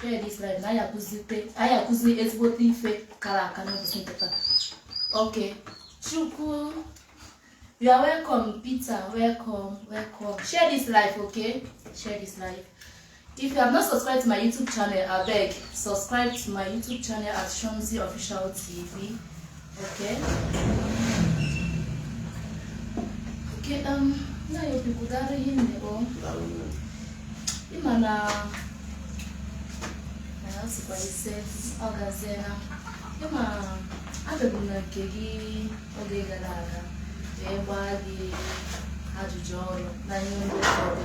Share this live na anyị akụzite anyị akụzi ezigbote ife kara aka n'ụbọchị nketa. Okay. Chukwu You are welcome, Peter. Welcome, welcome. Share this life, okay? Share this life. If you have not subscribed to my YouTube channel, I beg, subscribe to my YouTube channel at Shomzi Official TV. Okay. Okay, um, na yo bikudara ihe nne o. Ịma na na ya sikwa ise ọ gazie na ịma abịago na nke gị oge gara aga wee gbaa gị ajụjụ ọnụ na ihe ndị ọrụ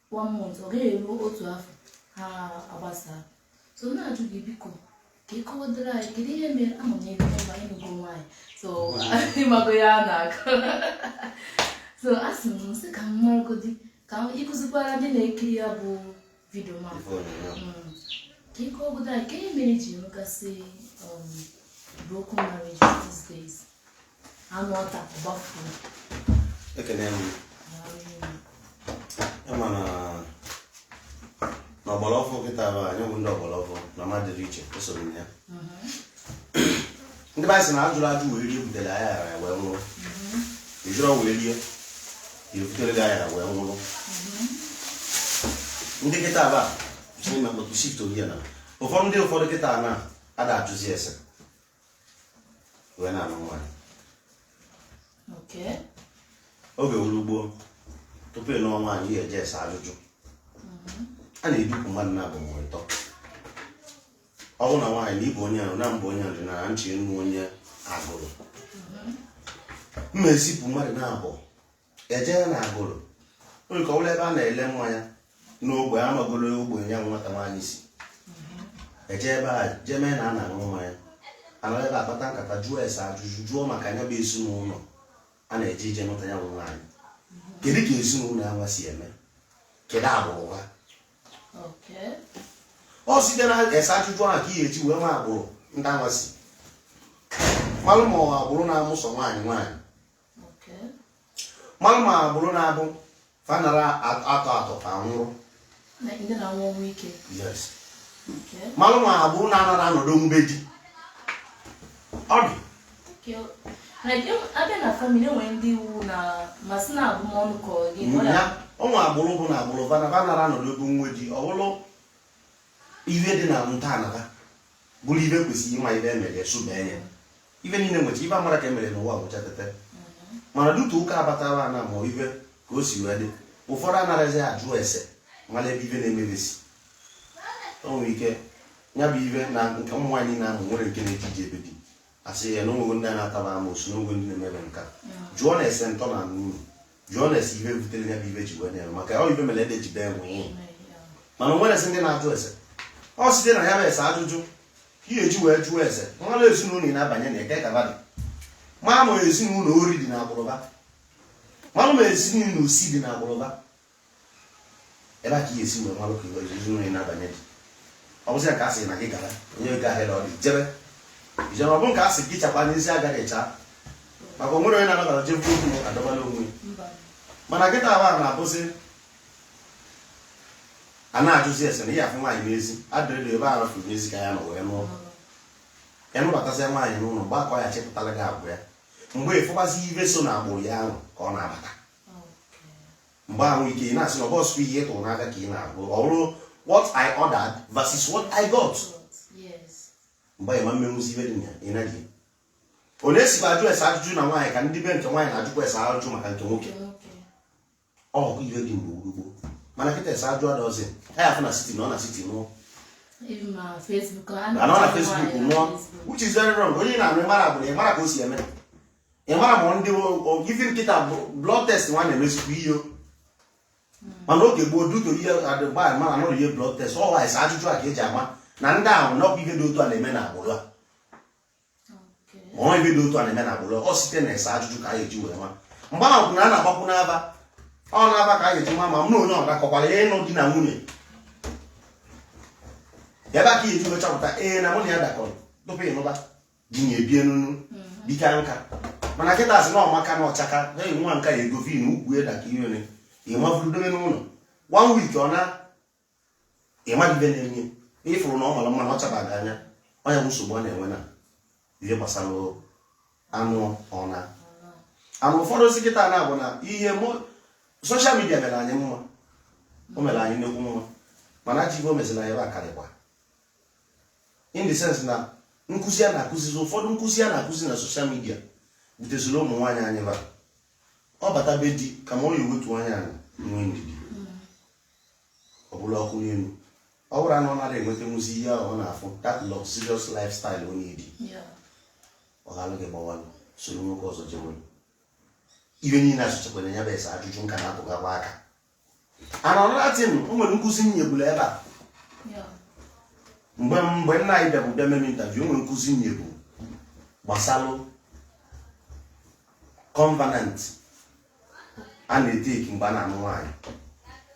one month ọ gaghị eruo otu afọ ha agbasaa so na-ajụ gị biko ka ị kọwadara anyị kedu ihe mere ama m ebe mba ịnụgo nwaanyị so ị mago ihe a na-akọ so a sị m sị ka m maragodi ka ị kụzikwara ndị na-ekiri ya bụ vidio ma mm. ka ị kọwagodo anyị ka ihe mere e ji enwegasị um, broken marriage these days a nụọ taa gbafuo ekene m ama na na ọgbara ọfụ kịta bụ anyị bụ ndị ọgbara ọfụ na mmadụ dị iche esoro m ya ndị be anyị sị na ajụrọ ajụ wee rie butere ayarọ aya wee nwụrụ ị jụrọ wee rie ebutere gị ayarọ wee nwụrụ ndị kịta bụ a si na mkpọtụ shift oyi ya na ụfọdụ ndị ụfọdụ kịta na ada ajụzi ese wee na-anụ nwa Okay. oge wuru gboo tupu ị nụọ nwaanyị ị ya-eje ese ajụjụ a na-edupụ mmadụ naabọ ma ọ bụ ịtọ ọ bụrụ na nwaanyị na ịbụ onye ahụ na mbụ onye ọdịnala nche nnu onye Agụlụ mma ezipụ mmadụ naabọ eje ya na Agụlụ nke ọbụla ebe a na-ele mmanya n'ogbe amagolo ogbe ya nwata nwaanyị si eje ebe a jee mee na a na-aṅụ mmanya a nọ ebe a kpata nkata jụọ ese ajụjụ jụọ maka ya bụ ezinụlọ a na-eje ije nweta ya bụ nwaanyị kedu ka ezinụlọ ya nwa si eme kedu agbụrụ ha ọ site na ese ajụjụ ahụ ka ị ga-eji wee ma agbụrụ ndị a nwa si malụ ma ọ agbụrụ na-amụsọ nwaanyị nwaanyị malụ ma agbụrụ na-abụ fa anara atọ atọ ka nwụrụ malụ ma agbụrụ na-anara anọdụ na be di ọ dị ụmụ agbụrụ bụ na agbụrụ fa anara anọdụ ebe nwe di ọ bụrụ ihe dị na nta anaba bụrụ ive kwesịrị ịma ive e mere esụbee ya ive niile nwecha ive amara ka emere n'ụwa bụcha tete mana dutu ụka abatara ana ma ive ka o si wee dị ụfọdụ anarazi ajụ ese mara ebe ive na-emebesi o nwere ike ya bụ ive na nke ụmụ nwaanyị na-amụ nwere nke na-eji ije be di asị ya na onwego ndị a na-ataba amoosu na onwego ndị na-emebe nka jụọ na ese ntọ na anụ uru jụọ na ese ibe butere ya bụ ibe ji wee na-eme maka ọ ibe mere ede ji bee nwịị mana o nwere ese ndị na-ajụ ese ọ site na ya bụ ese ajụjụ ị ya-eji wee jụọ ese malụ ezinụlọ ị na-abanye na eke ka ba dị ma ma ezinụlọ ori dị na agbụrụ ba malụ ma ezinụlọ osi dị na agbụrụ ba ebe a ka ị ya-esi wee malụ ka ezinụlọ ị na-abanye dị ọ bụzi ya ka a sị na gị gara onye ego ahịa na ọ dị jebe ijebe ọ bụ nke a sị gị chakwa n'isi agaghị echa maka onwere onye na-anabata je bụrụ okwu adọbala onwe mana kịta ahụ a na-abụzi a na-ajụzi ese na ihe afụ nwaanyị n'ezi adịrịla ebe a rafuru n'ezi ka ị ya-anọ wee nụọ ya nụbatasịa nwaanyị n'ụlọ mgbe a ka ọ ya chepụtara gị agwa ya mgbe ịfụbazi ibe so na agbụrụ ya ahụ ka ọ na-abata mgbe ahụ ka ị na-asị na ọ bụrọ ihe ị tụrụ n'aka ka ị na-afụ ọ bụrụ what I ordered versus what I got mgbe ị ma emenwuzi ibe dị na ị naghị ọ na-esikwa ajụ ese ajụjụ na nwaanyị ka ndị be nke nwaanyị na-ajụkwa ese ajụjụ maka nke nwoke ọ bụ ibe dị mgbe gboo gboo mana kịta ese ajụjụ adọzi ha ya afụ na siti nọọ na siti nụọ anọ na Facebook nụọ which is very wrong onye ị na-anụ ịmara agbụrụ ya ịmara ka o si eme ị mara ma ndị ife kịta blood test nwa na-emezikwa ihe mana oge gboo duto ihe adịgba mana anọrọ ihe blood test ọ bụ ese ajụjụ a ka eji ama na ndị ahụ na ọkwa ihe dị otu a na-eme na agbụrụ a ma ọ ihe dị otu a na-eme na agbụrụ ọ site na ese ajụjụ ka a ga-eji wee ma mgbe ahụ bụ na a na-agbakwu n'aba ọ n'aba ka a ga-eji ma ma m na onye ọ dakọkwara ya ịnụ di na nwunye ebe a ka ị ya-eji wee chọpụta ee na mụ na ya dakọrọ tupu ịnụba di na ebie n'ụnọ mhm. bika nka mana kịta asị na ọmaka na ọchaka eyi nwa nka ya egovi na ukwu eda ka iwere ịmavuru dobe n'ụlọ one week ọ na ịmadịbe na-enye ịfụrụ na ọ mara mma na ọ chaba gị anya ọ ya bụ nsogbu a na-enwe na ihe gbasara anụ ọna anụ ụfọdụ si kịta na bụ na ihe soshal midia mere anyị mma o mere anyị nnekwu mma mana ajọ ibe o meziri anyị ebe a karịkwa in the sense na nkụzi a na-akụzizi ụfọdụ nkụzi a na-akụzi na soshal midia buteziri ụmụ nwaanyị anyị ba ọ bata be di kama ọ ya ewetu anya anị nwee ndidi ọ bụlụ ọkụ n'elu ọ bụrụ na ọ nara enwetanwuzi ihe ahụ ọ na-afụ that luxurious lifestyle na be di ọ ghalụ gị gbawalụ soro nwoke ọzọ jewe ihe niile a sichakwa na ya bụ ese ajụjụ nka na-atụgakwa aka and another thing o nwere nkụzi m nyeburu ebe a mgbe mgbe nna anyị bịabụ bịa meme interview o nwere nkụzi m nyebu gbasalụ covenant a na-etake mgbe a na-anụ nwaanyị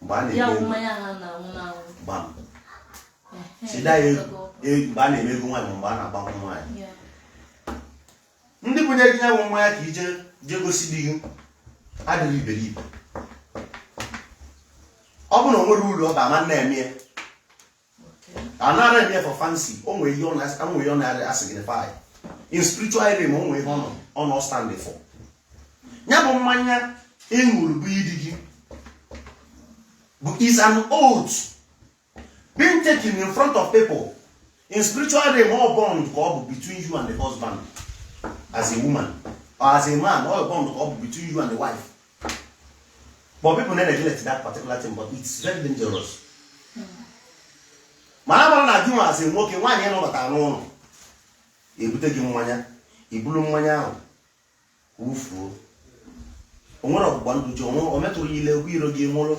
mgbe a ya na-eme wụ ego mmanya ha na-anwụ n'anwụ gbam Ehe, it's either ya ego ego. e- mgbe a na-eme ego nwaanyị ma mgbe a na-agba nkwụ nwaanyị Ya. ndị bunye gị nya bụ mmanya ka i ji jee gosi di gị adịghị iberibe ọ bụ na o nwere uru ọ ga-ama na-eme ya a nara eme for fancy o nwere ihe ọ na-asignify in spiritual realm o nwere ihe ọ na-astand for ya bụ mmanya ị ṅụrụ bunye di gị bụ is an oath being taken in front of people in spiritual realm ọ bond ka ọ bụ between you and the husband as a woman or as a man ọ bond ka ọ bụ between you and the wife but people na-aneglect that particular thing but it's very dangerous mana mara na gịnwa as a nwoke nwaanyị ị nụbata n'ụlọ ebute gị mmanya i bulu mmanya ahụ wufuo o nwere ọgbụgba ndụ ji onwe o metụrụ ya ile egwu iro gị nwụrụ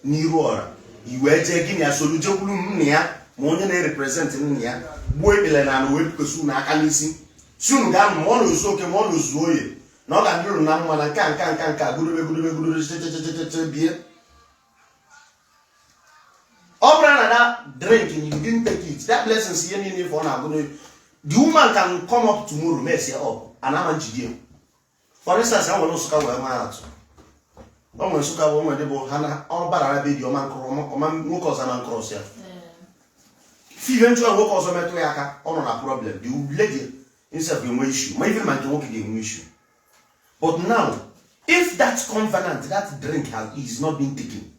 n'iru ọra i wee jee gị na ya solu jekwuru nna ya ma onye na-erepresent nna ya gbuo ikpele n'ala wee bikosi unu aka n'isi si unu gaa ma unu zụọ eke ma unu zụọ oye na ọ ga-adịrị unu na mma na nka nka nka nka gụrụbe gụrụbe gụrụbe chechechecheche bie ọ bụrụ na that drink and you didn't take it that blessings ihe niile ife ọ na-agụ n'oyi the woman can come up tomorrow mess ya up and ama njide ya for instance e were Nsụka wee maa atụ o nwere Nsụka bụ onwe dị bụ ha na ọ bara na be di ọma nkụrụ ọma- ọma nwoke ọzọ na ncross ya si ihe nchụọ nwoke ọzọ metụ ya aka ọ nọ na problem the lady himself ga-enwe issue ma even ma nke nwoke ga-enwe issue but now if that covenant that drink is not being taken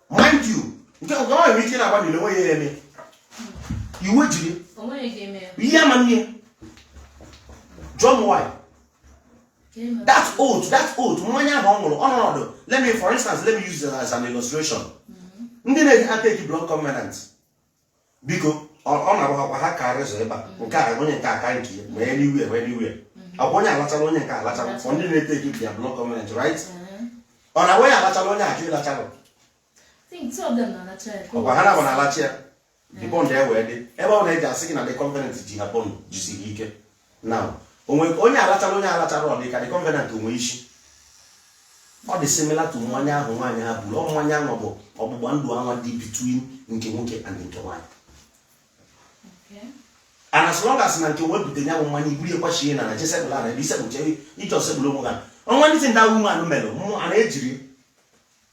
mind you nke ọ nwere ike na-agba na onwe ya eme iwe jiri ihe ama nne John why that oath that oath mmanya ahụ ọ ṅụrụ ọnọdụ let me for instance let me use it as an illustration mm-hmm. ndị na-eji atake blood covenant biko ọ na-abụ ha kwa ha kaa razor ebe a mm. nke a onye nke a kaa nke ma anywhere ma anywhere mm-hmm. ọ bụ onye a lachara onye nke a lachara for ndị na-etake their blood covenant right ọ na onye a lachara onye a ajụ ịlachara ọ kwa ha naabọ na-alacha ya the bond ewee dị ebe ọ na-eji asị gị na the covenant ji ha bond jisiri ike now onwe onye a lachara onye a alachara ọ dị ka the covenant enwe isi ọ dị similar to mmanya ahụ nwaanyị ha buru ọ mmanya ahụ bụ ọgbụgba ndụ anwa dị between nke nwoke and nke nwaanyị and as long as na nke nwaanyị bute nya bụ mmanya i buru ekwachie na na jesebụl ara ebe isebụche ije osebụl onwe ha ọnwa ndị ndị ahụ ụmụ anụ mere mmụ a na-ejiri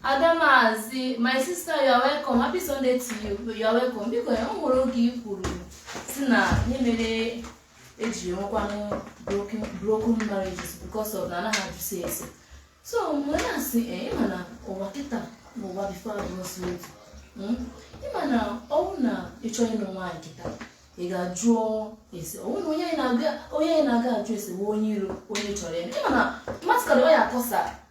Adamazi, my sister, you are welcome. Happy Sunday to you. You are welcome. Biko ya o nwere oge i kwuru sị na ihe mere eji enwekwanụ broken broken marriages because of na anaghị ajụzi ese. So mgbe na asị eh, ịma na ụwa kịta na ụwa before abụọzi otu. Mm? Ịma na ọ wụ na ị chọ ịnụ nwaanyị kịta ị ga-ajụọ ese ọ wụ na onye anyị na-aga onye anyị na-aga ajụ ese bụ onye iro onye chọrọ ya. Ịma na mmadụ ka na ọ ya akọsa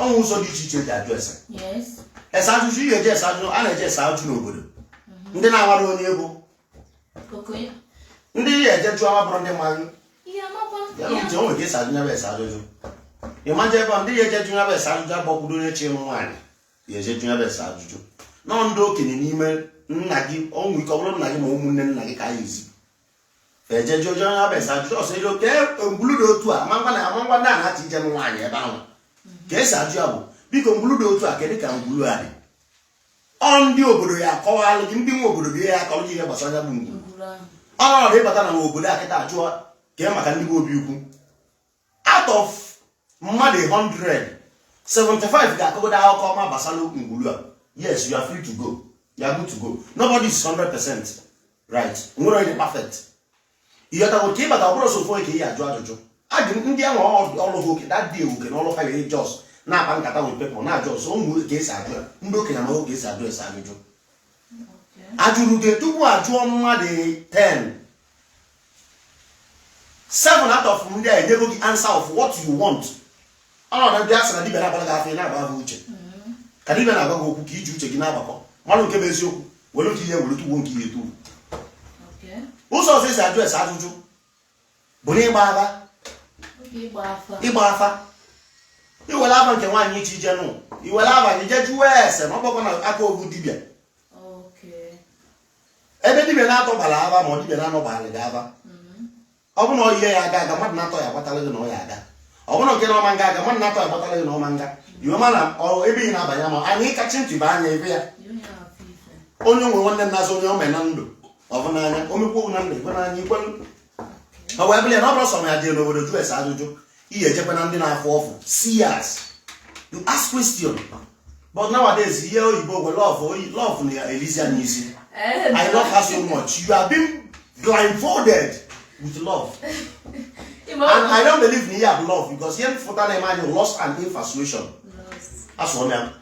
o nwee ụzọ dị iche iche eji ajụ ese ese ajụjụ ije ese ajụjụ a na-eje ese ajụjụ n'obodo mhm. ndị na-amarọ onye ị bụ ndị ị ya-eje jụọ ma bụrụ ndị mmadụ nche o nwere ka esi ajụ nya bụ ese ajụjụ ị ma-eji onwe gị eje jụ nya bụ ese ajụjụ ọ bụrọdị onye chọ ịnụ nwaanyị ya-eje jụ nya bụ ese ajụjụ na ọ ndị okenye n'ime nna gị o nwee ike ọ bụrụ nna gị ma ụmụnne nna gị ka a ya-ezi eje jụọ jụọ ya bụ ese ajụjụ ọsọ ilo ka ngwulu dị otu a a ma-agwa na a ma-agwa ndị a na-achọ ije nwaanyị ebe ahụ ka esi ajụ ya bụ biko ngwulu dị otu a kedụ ka ngwulu a dị ọ ndị obodo ya-akọwalụ gị ndị bi obodo gị ya-akọrọ gị ihe gbasara ya bụ ngwulu ọ bụrụ ị bata n'obodo a kịta ajụọ ka maka ndị be Obiukwu out of mmadụ 100 75 ga-akọgodo akụkọ ọma gbasara ngwulu a yes you are free to go you are good to go nobody is 100 percent right o nwerọ onye dị perfect ị ghọtago kịta ọ bụrọ sọ ofu onye ka ị ya-ajụ ajụjụ ajụ ndị ahụ ọrụ ha oke dadị ewu ke na ọrụ ha ga-eji just na-akpa nkata with people na-ajụ ọzọ ụmụ ka esi ajụ ya ndị okenye ma ka esi ajụ ese ajụjụ ajụgide tupu ajụọ mmadụ 10 seven out of ndị a enyego gị answer of what you want ọ ndị be anyị sị na dibịa na-agbara gị afa ị na-agba afa uche ka dibịa na-agwa gị okwu ka iji uche gị na-agbakọ malụ nke bụ eziokwu were nke ị ya-ewere tuwo nke ị ya-etuwo ụzọ ọzọ esi ajụ ese ajụjụ bụ n'ịgba afa ịgba afa i were afa nke nwaanyị ị chọ ije nụ i were afa gị jee jụọ ese ma ọ bụrọkwa n'aka ofu dibịa ebe dibia na-atọ gbara afa ma ọ dibia na-anọ gbara gị afa mm-hmm. ọ bụ na ọ ihe ya-aga aga mmadụ na-atọ ya agbatara gị na ọ ya-aga ọ bụrụ nke na ọ ma-aga aga mmadụ na-atọ ya agbatara gị na ọ ma-aga i wee ma na ebe ị na-abanye ma na ị kachie ntị banye ebe a onye nwe nwanne nna azụ onye o mee na ndụ ọ bụ n'anya o mekwa na ndụ ikwe n'anya ikwe ọ wee bụrụ ya na ọ bụrọ sọ ya dị n'obodo jụọ ese ajụjụ ị ya-ejekwa na ndị na-afụ ọfụ seers you ask question but nowadays ihe oyibo wụ love ọ love na-elizi anyị isi eh, i love her so much you have been blindfolded with love and i don't believe na ihe a bụ love because ihe m fụta na-eme anyị lust and infatuation asụọ m ya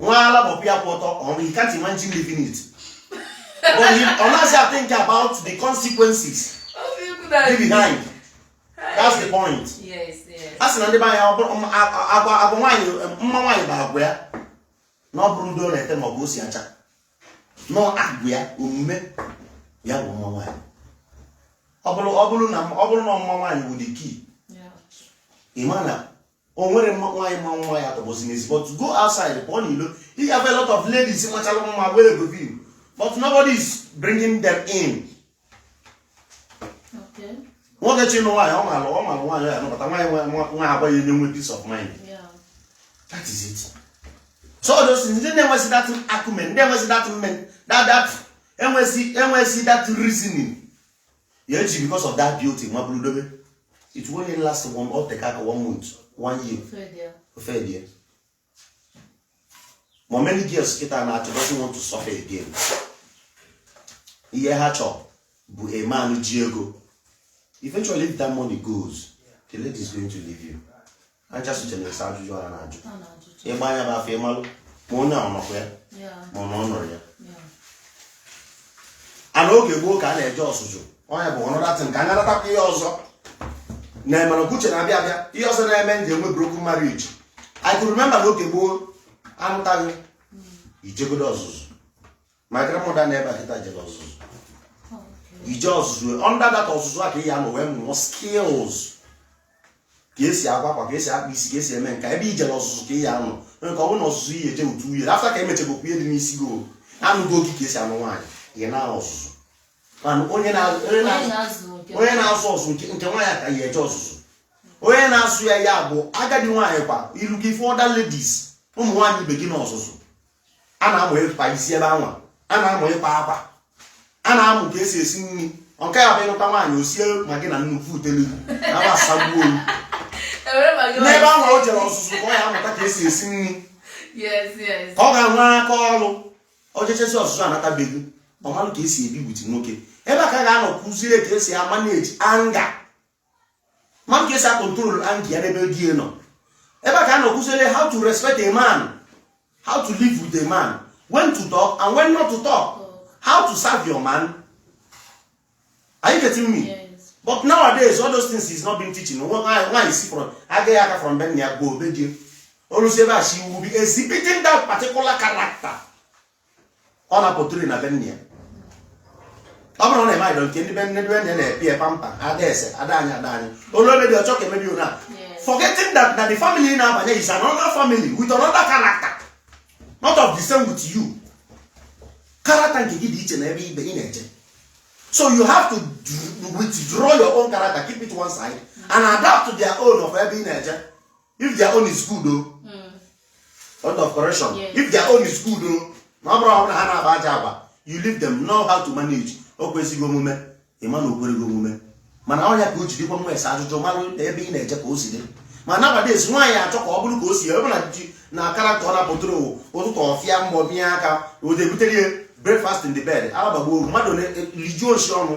nwa ala bụ pịa kwụ ọtọ ọrụ you can't imagine living it but he ọ naghị a think about the consequences be behind that's the point a sị na ndị be anyị agwa agwa nwaanyị mma nwaanyị bụ agwa ya na ọ bụrọ ude ọ na-ete ma ọ bụ o si acha na agwa ya omume ya bụ mma nwaanyị ọ bụrụ na mma nwaanyị wụ the key ị ma na o nwerọ nwaanyị ma mma ya-atọgbọzi n'ezi but go outside pụọ n'ilo ị ga a lot of ladies machala mma were go view but nobody is bringing them in nwoke chọ ịnụ nwaanyị ọ mara ọ mara nwaanyị ya nụbata nwaanyị nwe agwa ya enye nwe peace of mind that is it so those ndị na-enwezi that acumen ndị enwezi that men that that enwezi enwezi that reasoning ya eji because of that beauty nwa buru dobe it won't last one o teka aka one month one year ọ fadie ma many girls kịta na-achọ doesn't want to suffer again ihe ha chọrọ bụ a man ji ego eventually if that money goes the lady is going to leave you aja socha na-esa ajụjụ a na-ajụ ịgba anya bụ afọ ịmalụ ma onye ahụ nọkwa ya ma ọ na ọ nọrọ ya a na oge gboo ka a na-eje ọzụzụ onye bụ ọnọdatị ka anya natakwa ihe ọzọ na-emere uche na-abịa abịa ihe ọzọ na-eme ndị enwe broken marriage I could remember na oge gboo a nụta gị i jegodo ọzụzụ my grandmother nọ ebe a kịta jere ọzụzụ ije ọzụzụ under that ọzụzụ a ka ị ya nọ wee mụọ skills ka esi akwa akwa ka esi akpa isi ka esi eme nka ebe i jere ọzụzụ ka ị ya nọ nwere ka ọ bụrụ na ọzụzụ ị ya eje otu year after ka emechegokwu ihe dị n'isi gị o anụgo gị ka esi anụ nwaanyị ị nọ ọzụzụ mana onye na- onye Onye na- na-azụ nke onye na-azụ ọzụ nke nke nwaanyị ka ya eje ọzụzụ onye na-azụ ya ya bụ agadi nwaanyị kwa i luo gị fụ other ladies ụmụ nwaanyị ibe gị n'ọzụzụ a na-amụ ịkpa isi ebe anwa a na-amụ ịkpa akwa a na-amụ ka esi esi nri ka ọ ya abụ ị nụta nwaanyị o sie ma gị na nnukwu utelu na-agbasagbuo n'ebe ahụ o jere ọzụzụ ka ọ ya amụta ka esi esi nri ka ọ ga-enwe aka ọrụ o jechazie ọzụzụ anata be gị ọ malụ ka esi ebi with nwoke ebe a ka a ga-anọ kuzie ka esi a-manage anger ma ka esi a-control anger ya n'ebe di nọ ebe a ka a nọ kuziere how to respect a man how to live with a man when to talk and when not to talk how to serve your man are you getting me yes. but nowadays all those things is not being teaching nwaanyị si from agaghị aka from be nna ya gbaa be di ya o luzie ebe a she will be exhibiting that particular character ọ na-aportray na be nne ya ọ bụrụ na ị maghị nke ndị be nne ndị be nne na-epi ya pamper ada eze ada anyị ada anyị o lue be di ọ chọọ ka e mebe ona forgetting that na the family ị na-abanye is another family with another character not of the same with you character nke gị dị iche na ebe ebe ị na-eje so you have to withdraw your own character keep it one side and adapt to their own of ebe ị na-eje if their own is good o hmm. lot of correction if their own is good o na ọ bụrụ ọ bụ na ha na-akpa ajọ agwa you leave them know how to manage o kwesịghị omume ị ma na o kwere gị omume mana ọ ya ka o ji dịkwa mma ese ajụjụ mara ebe ị na-eje ka o si dị ma nowadays nwaanyị achọọ ka ọ bụrụ ka o si ebe na ji na character ọ na-apụtụrụ ụtụtụ ọfịa mbọ bịa aka o debutere ya breakfast in the bed alabagbo oru mmadụ rijuo nsị ọnụ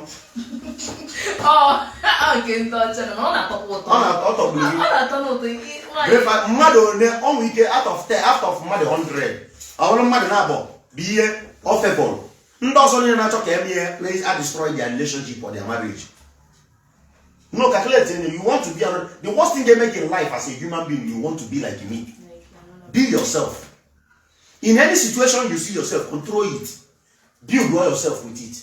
mmadụ one o nwe ike out of 10 out of mmadụ 100 ọ bụrụ mmadụ naabọ bụ ihe ofebụl ndị ọzọ niile na-achọ ka e mee ihe na destroy their relationship or their marriage no calculate you want to be the worst thing they make in life as a human being you want to be like me be yourself in any situation you see yourself control it build well yourself with it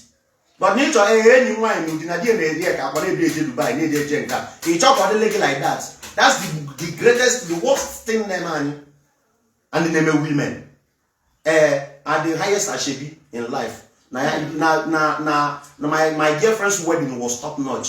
but na ịchọ ee eh, enyi m nwaanyị n'ụdị na di na-eri ya ka agba na-ebi eje Dubai na-eje eje nka ị chọọ ka ọ dịlị gị like that that's the, the greatest the worst thing na-eme anyị and na-eme women ee eh, are the highest ashebi in life na na na na my, my girlfriend's wedding was top notch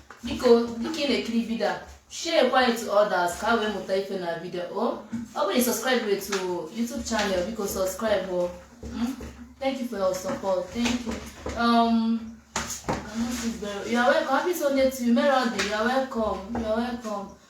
biko dịka ị na-ekiri vidio a share kwa it to others ka ha wee mụta ife na vidio o ọ bụrụ na subscribe to YouTube channel biko subscribe o hmm? thank you for your support thank you um, you are welcome happy Sunday to you Merode you are welcome you are welcome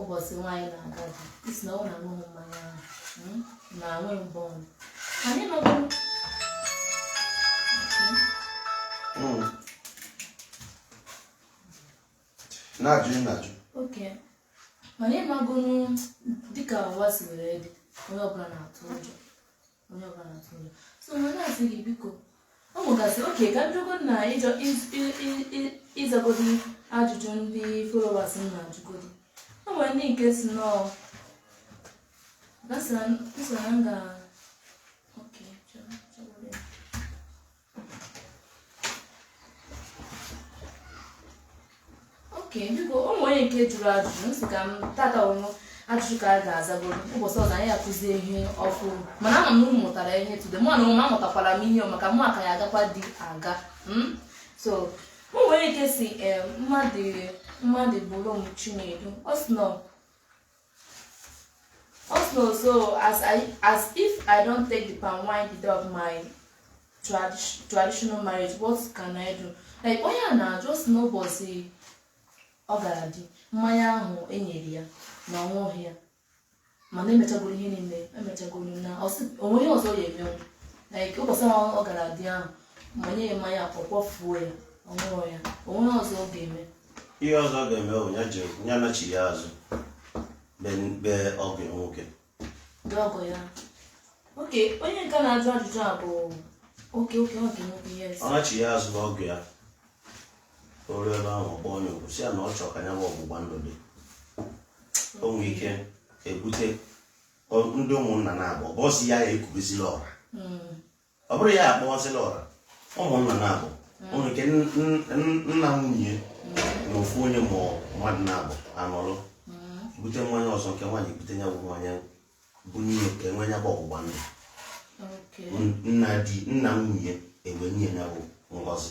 ụbọchị nwaanyị na-aga di ị sị na ọ na aṅụghị mmanya ahụ mm, na anwe mbọ ọnụ anyị nọgoro Mm. na-ajụ ị na-ajụ okay mana ị magonụ dịka ụwa si were dị onye ọbụla na-atụ ụjọ onye ọbụla na-atụ ụjọ so mgbe na-asị gị biko ọ nwegasị okay ka m jego na ịjọ ịzagodi ajụjụ ndị followers m na-ajụgodi o nwere ndị nke sị nọ gasị na m ga okay biko o nwere nke jụrụ ajụjụ m sị kama taa ọ bụ ajụjụ ka a ga-azagoro ụbọchị ọzọ anyị akụzie ihe ọfụrụ mana ama m na unu mụtara ihe today mụnwa mụ amụtakwara m ihe maka mụ ka ya-agakwa di aga hmm? so o nwere nke sị eh, mmadụ mmadụ bụrụ m Chinedu ọ sị na Also, so as I as if I don't take the palm wine the day of my tradi- traditional marriage, what can I do? Like onye a na-ajụ sị n'ụbọchị ọ gara di mmanya ahụ e nyere ya na ọ ṅụghị ya mana emechagoro ihe niile emechagoro na o nwe ihe ọzọ ọ ya-emenwu like ụbọchị ahụ ọ gara di ahụ manye ya mmanya ọ kpofuo ya ọ ṅụghị ya o nwe ihe ọzọ ọ ga-eme ihe ọzọ ọ ga-eme bụ ya ji ya nachi ya azụ be- be ọgọ ya nwoke Ndị ọgọ ya. Oke, onye nke na-ajụ ajụjụ a bụ oke oke oke nwoke yes. ọ nachi ya azụ be ọgọ ya o ruo ebe ahụ ọ kpọọ onye okwu sị ya na ọ chọrọ ka ya bụ ọgbụgba ndụ dị o nwere ike ebute ọ- ndị ụmụnna naabọ bụzi ya ya ekubezila ọra Mm. ọ bụrụ ya akpọzila ọra ụmụnna naabọ o nwere ike nna nwunye na ofu onye ma mmadụ naabọ anọlụ bute mmanya ọzọ nke nwaanyị bute ya bụ mmanya bunye ka e nwee ya bụ ọgbụgba ndụ nna di nna nwunye e wee nye ya bụ ngọzi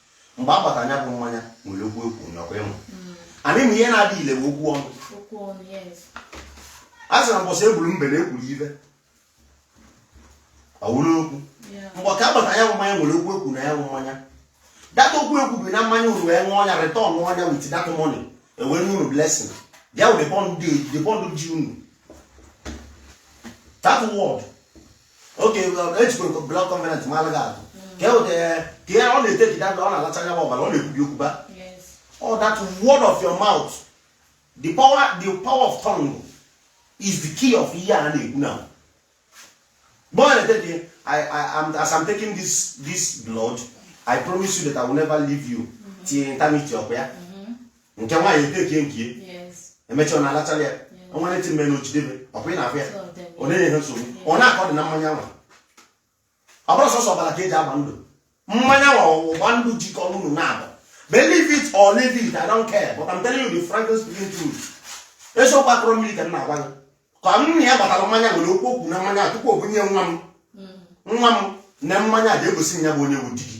mgbe a gbata nya bụ mmanya nwere okwu e kwunyekwa ime mm. anyị ma ihe na-adị ile bụ okwu ọnụ a sị na mbọsị e gburu mbe na e kwuru ibe ọ wụrụ okwu mgbe ka a gbata nya bụ mmanya nwere okwu ekwu na ya bụ mmanya that okwu ekwu bụ na mmanya unu wee ṅụọ nya return nya with that money e wee nye unu blessing bịa wụ the bond ji unu that word oke e jikwa blood covenant maalụ gị atụ ka e weta ka ya ọ na-etake that ọ na-alacha ya bụ ọbara ọ na-ekwubi okwu ba all that word of your mouth the power the power of tongue is the key of ihe a na-ekwu na mgbe ọ na-ete dị I, I, I'm, as I'm taking this, this blood, I promise you that I will never leave you till eternity ọkwa ya nke nwaanyị etekie nke emecha ọ na-alachara ya ọnwa na-eti mme na ochidebe ọkwa ị na-afụ ya ọ na-enye ha nsogbu ọ na-akọ dị na mmanya nwa ọ bụrọ sọsọ ọbara ka e ji agba ndụ mmanya nwa ọgbụgba ndụ jikọ unu naabọ believe it or leave it I don't care but I'm telling you the frankly speaking truth eziokwu akụrụ mmiri ka m na-agwa gị ka nna ya gbatara mmanya nwere okwu o kwuru na mmanya tupu o bunye nwa m hmm. nwa m na mmanya ga-egosi ya bụ onye wu di gị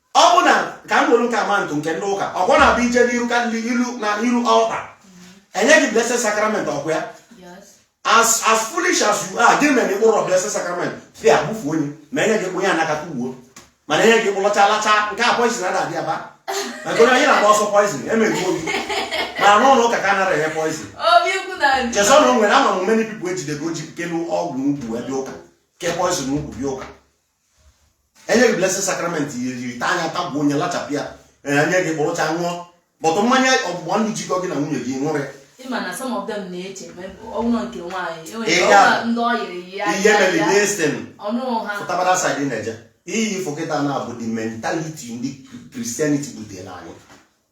ọ bụ na ka m were nke a maa atụ nke ndị ụka ọkwa ọ na-abụ i jee n'iru ka ndị ilu na iru altar e nye gị blessed sacrament ọkwa ya as as foolish as you are gị mere ịkpụrụ blessed sacrament fi abụfu onye ma enye gị onye anakata ugbo mana enye gị kpụlọcha lacha nke a poison a na-adị aba maka onye anyị na-agba ọsọ poison emeghị obi mana n'ụlọ ụka ka a nara enye poison chesọ na o nwere ama m many people ejidego ji kelu ọgwụ n'ukwu ebe ụka kee poison n'ukwu bịa ụka enye gị blessed sacrament yiri ite anya tagbuo onye lachapụ ya enye gị kpọrọcha ṅụọ but mmanya ọgbụgba ndụ jikọ gị na nwunye gị ṅụrọ ya ihe mere destin fụtabara side na-eje iyi fụkịta na-abụ the mentality ndị Christianity butere anyị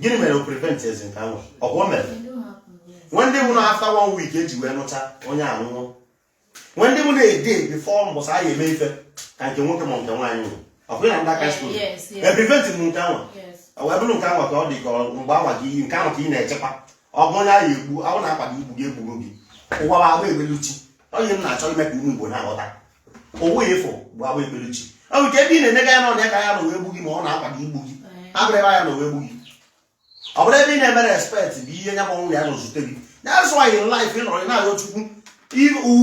gịnị mere o prevent ezi nke ahụ ọkwa o mere nwe ndị mụ na after one week eji wee ṅụcha onye anwụọ nwe ndị mụ na a day before mbọsị anyị eme ife ka nke nwoke ma nke nwaanyị nwụ ọkwa ya na ndị aka Eh, skuul yes, yes. e prevent m nke ahụ Yes. ọ wee bụrụ nke ahụ ka ọ dị ka ọ- mgbe ahụ gị nke ahụ ka ị na-echekwa ọgụ onye ahụ egbu ahụ na-akwado igbu gị egburu gị ụwa bụ agba ekpeluchi ọ ihe m na-achọ ime ka ụmụ Igbo na-aghọta ụwa ị fụ bụ agba ekpeluchi ọ bụ nke ebe ị na-enega ya n'ọnụ ya ka ya na wee gbu gị ma ọ na-akwado igbu gị abụrụ ebe ya na wee gbu gị ọ bụrụ ebe ị na-emerọ expect bụ ihe nya gbanwụ ya na ozute gị that's why in life ị nọrọ na-arịọ Chukwu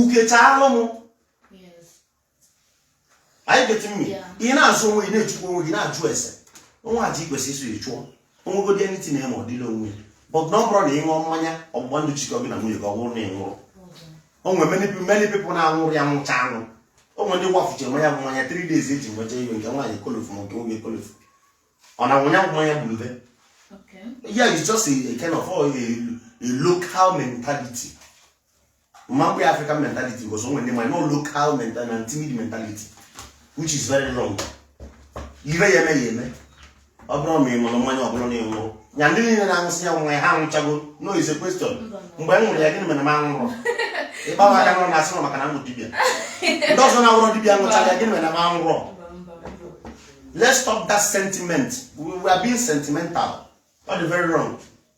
uke chaalụ m are you getting me ị na-azọ onwe gị na-echukwu onwe gị na-ajụ ese o nwe aja i kwesị iso ya chụọ o nwegodi anything ma ọ dịla onwe ya but na ọ bụrụ na ị ṅụọ mmanya ọgbụgba ndụ jikọ gị na nwunye gị ọ bụrụ na ị nwụrụ o nwere many people many people na-aṅụrọ ya nwụcha anwụ o nwere ndị kwafucha nya bụ mmanya 3 days eji nwecha iwe nke nwaanyị kolofu ma nke nwoke kolofu ọ na ṅụ nya bụ mmanya gburu be Okay. yeah it's just a, a kind of a, a local mentality m ma kpọ ya African mentality because o nwe ndị ma no local mentality na timid mentality which is very wrong ire ya eme ya eme ọ bụrụ ma ị ṅụrụ mmanya ọ bụrụ na ị ṅụrụ ya ndị niile na-aṅụsị ya nwa ya ha anwụchago no it's a question mgbe m ṅụrụ ya gịnị mere m anwụrọ ịgba m aka n'ụlọ na-asị m maka na m bụ dibịa ndị ọzọ na-awụrọ dibịa ṅụchara ya gịnị mere na m anwụrọ let's stop that sentiment we, we are being sentimental that's very wrong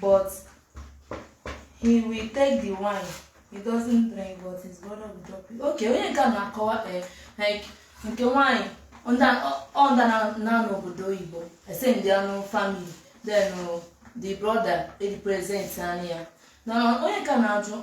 But he will take the wine. He doesn't drink, but his brother will drop it. Okay, onye nke a na-akọwa eh, like nke nwaanyị ọ nda- ọ- ọ nda na- na ọ nọ obodo oyibo ese ndị anụ family then uh, the brother represent anyị ya na onye ka na-ajụ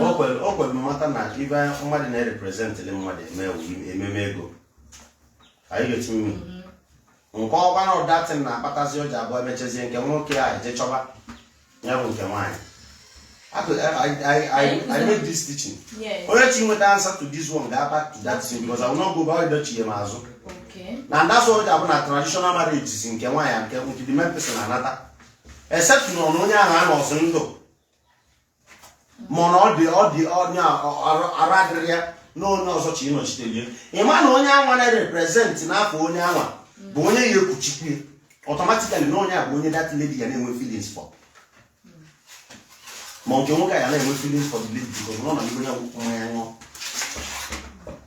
o kwere o kwere mmata na ibe mmadụ na-erepresentịrị mmadụ eme wu- ememe ego anyị ga-eti mmiri nke ọkwa na ọ that thing na-akpatazi ụjọ abụọ emechazie nke nwoke a eje chọba ya bụ nke nwaanyị Akụ- I- I- I- I- I made this teaching Yes. onye chọ inweta answer to this one ga back to that thing because I will not go back to chie m azụ Okay. na that's why ọ bụ na traditional marriage si nke nwaanyị nke nke the main person anata except na ọ na onye ahụ anọzi ndụ mana ọ dị ọ dị onye arụ adịrọ ya na onye ọzọ chọ ịnọchitelị ya ị ma na onye anwa na-represent n'afọ onye anwa bụ onye ya ekwuchi okwu ya automatically na onye a bụ onye that lady ya na-enwe feelings for ma nke nwoke a ya na-enwe feelings for the lady because ọ nọ n'ihu ya mmanya ṅụọ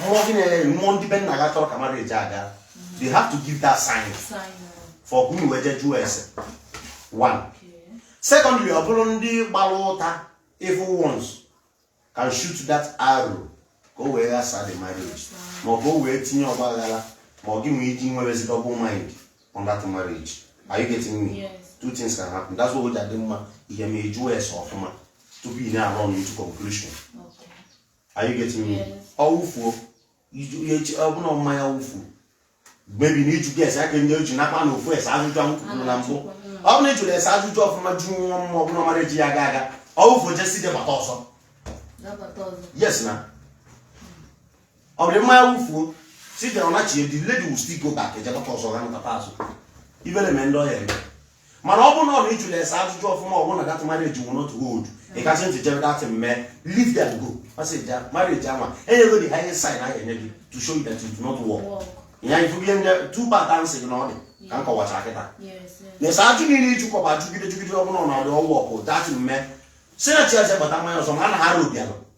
mmụọ gị na-enye gị mmụọ ndị be nna gị chọrọ ka marriage gaa they have to give that sign for ka unu wee jee jụọ ese one secondly ọ bụrụ ndị gbara ụta evil ones can shoot that arrow ka o wee ghasa the marriage ma ọ bụ o wee tinye ọgba aghara ma ọ gị nwee iji nwerezi double mind on that marriage are you getting me yes. two things can happen that's why o ji adị mma ihe ma a jụọ ese ọfụma tupu ị na-arun into conclusion are you getting me ọ wụfuo ọ bụrụ na mmanya wụfu maybe na iju ges aka ndị oji nakpa na ofu ese ajụjụ ahụ kwuru na mbụ ọ bụrụ na ị jụrụ ese ajụjụ ọfụma jụọ ndị mmụọ ọ bụrụ na marriage ya aga aga ọ wụfuo jesi dị bata ọzọ yes na ọ bụrụ mmanya wụfuo si dị ọnachi the lady will still go back ejebata ọzọ ga nụtata azụ ibere mee ndị ọhịa eme mana ọ bụrụ na ọ na ị jụla ese ajụjụ ọfụma ọ bụrụ na that marriage will not hold ị kasị ntị jebe that man leave them go masị ja marriage anwa enyego dị highest sign ahụ enye gị to show you that it will not work Work. ya ị fụgide ndị two part answer gị na ọ dị ka m kọwachara kịta Yes, yes. na ese ajụ niile ị jụkọba jụgide jụgide ọ bụrụ na it will work that man si na chiaze bata mmanya ọzọ ma a na ha ara obialụ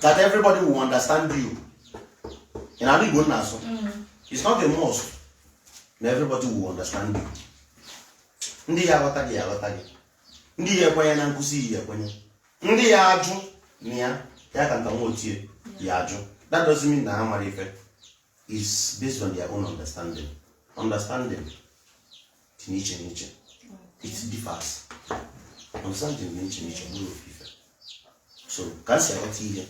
that everybody will understand you in the igbo m na-asụ mm. it's not a must na everybody will understand you ndị ya aghọta gị aghọta gị ndị ya ekwenye na nkụzi ya ekwenye ndị ya ajụ na ya ya ka nta nwa otie ya ajụ that doesn't mean na ha amarọ ife it's based on their own understanding understanding dị n'iche n'iche it differs understanding dị n'iche n'iche abụrọ ofu ife so ka m si aghọta ihe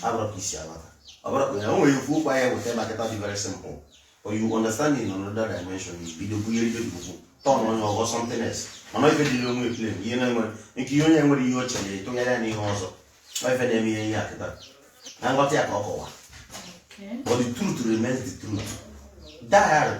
abụrọ ka i si aghọta ọ bụrụ ka ya o nwere ofu okwu a ya eweta maketa dị very simple or you understand in another dimension you bido bunyere ibe gị okwu turn onye ọgọ something else mana ife dịrị onwe ekele ihe na-enwere nke ihe onye nwere ihe o chere ịtụnyere ya n'ihe ọzọ ọ ife na-eme ihe ihe a kịta na nghọta ya ka ọ kọwa Okay. but the truth remains the truth dowry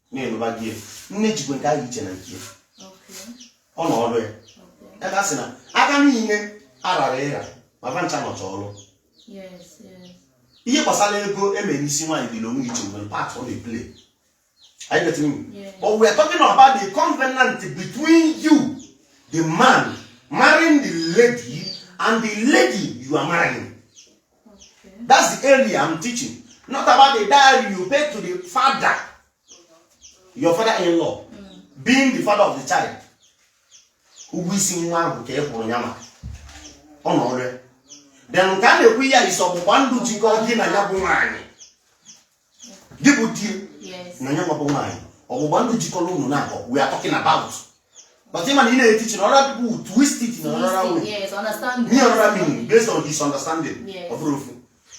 na-enụba gị ya nne jikwe nke ahụ iche na nke ya ọ nọ ọrụ ya ebe a sị na aka niile arara ịra ma ba ncha nọcha ọrụ ihe gbasara ego e mere isi nwaanyị dị n'onwe iche nwere part ọ na-eplay Are you getting me? Yeah. But we are talking about the covenant between you, the man, marrying the lady, and the lady you are marrying. that's the area I'm teaching not about the dowry you pay to the father your father in law mm. being the father of the child ụgwọ isi nwa ahụ ka ị kwụrụ ya maka ọ nọ ọrụ ya then nke a na-ekwu ya isi ọgbụgba ndụ jikọ gị na ya bụ nwaanyị gị bụ di na ya nwa bụ nwaanyị ọgbụgba ndụ jikọrọ unu naabọ we are talking about but ị ma na ị na-eteach na ọra bụ twist it na ọrara unu ihe ọrara meaning based on his understanding ọ bụrọ ofu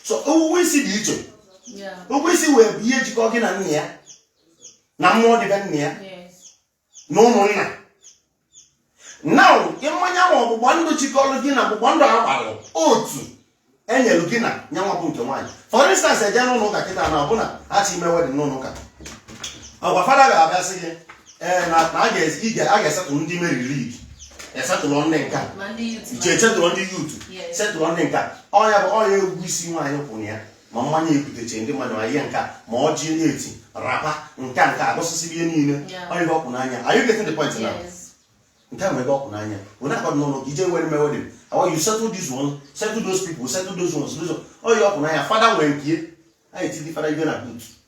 so ego isi dị iche ego isi wee bụ ihe jikọ gị na nna ya na mmụọ dị be nna ya na ụmụnna na mmanya ma ọgbụgba ndụ jikọrọ gị na ọgbụgba ndụ a gbalụ otu enyere gị na nyanwa bụ nke nwaanyị for instance e je n'ụlọ ụka kịta na ọ bụ na ha chi ime wedding n'ụlọ ụka ọkwa fada ga-abịa sị gị ee na a ga-esettle ndị Mary League esettle ndị nka iche esettle ndị youth settle ndị nka ọ nya bụ ọ nya ego isi nwaanyị kwụrụ ya ma mmanya ebuteche ndị mmadụ ma ihe nka ma ọjị na-eti wrapper nka nka agụsịsị ihe niile ọ ihe ọ kwụ n'anya are you getting the point now nke ahụ ebe ọ kwụ n'anya ọ nya ka ọ dị n'ụlọ ụka ị je were mee wedding how you settle this one settle those people settle those ones those ọ ihe ọ kwụ n'anya fada nwere nke anyị tidi fada ibe na butu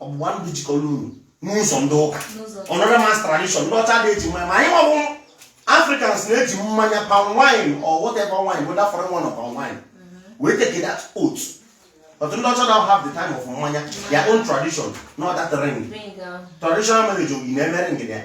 ọgbụgba ndụ jikọrọ unu n'ụzọ ndị ụka another man's tradition ndị ọcha adị eji mmanya ma anyị nwa bụ Africans na-eji mmanya palm wine or whatever wine whether foreign one or palm wine mm-hmm. wee take that oath but ndị ọcha don't have the time of mmanya their own tradition not that ring traditional marriage oyi na-emere ngede ya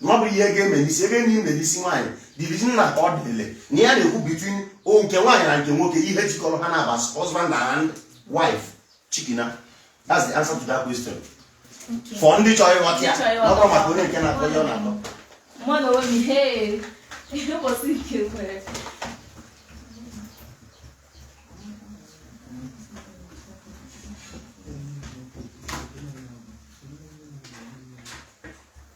na ọ bụ ihe ga-eme n'isi ebe enyi mere isi nwaanyị division na ka ọ dịle na ya na-ekwu between nke nwaanyị na nke nwoke ihe jikọrọ ha naabọ husband and wife chikina that's the answer to that question for ndị chọrọ ịghọta ya ọ bụrọ maka onye nke na-akọ ihe ọ na-akọ mmadụ onwe m ihe ihe ụbọchị nke nwere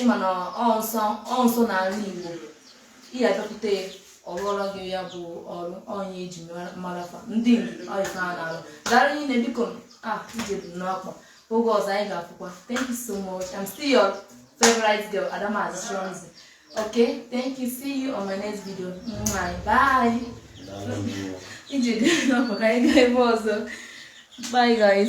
ị ma na ọ nsọ ọ nsọ n'ala Igbo ị ga-abịakwute ya ọ rụọrọ gị ya bụ ọrụ ọ nya e ji mara fa ndị Igbo ọ ife ha na-arụ daalụ rinne biko a ije bụ n'ọkpa oge ọzọ anyị ga-afụkwa thank you so much i'm still your favorite girl adamazi chionzi okay thank you see you on my next video Mwah, bye ije dị n'ọkpa ka anyị gaa ebe ọzọ bye guys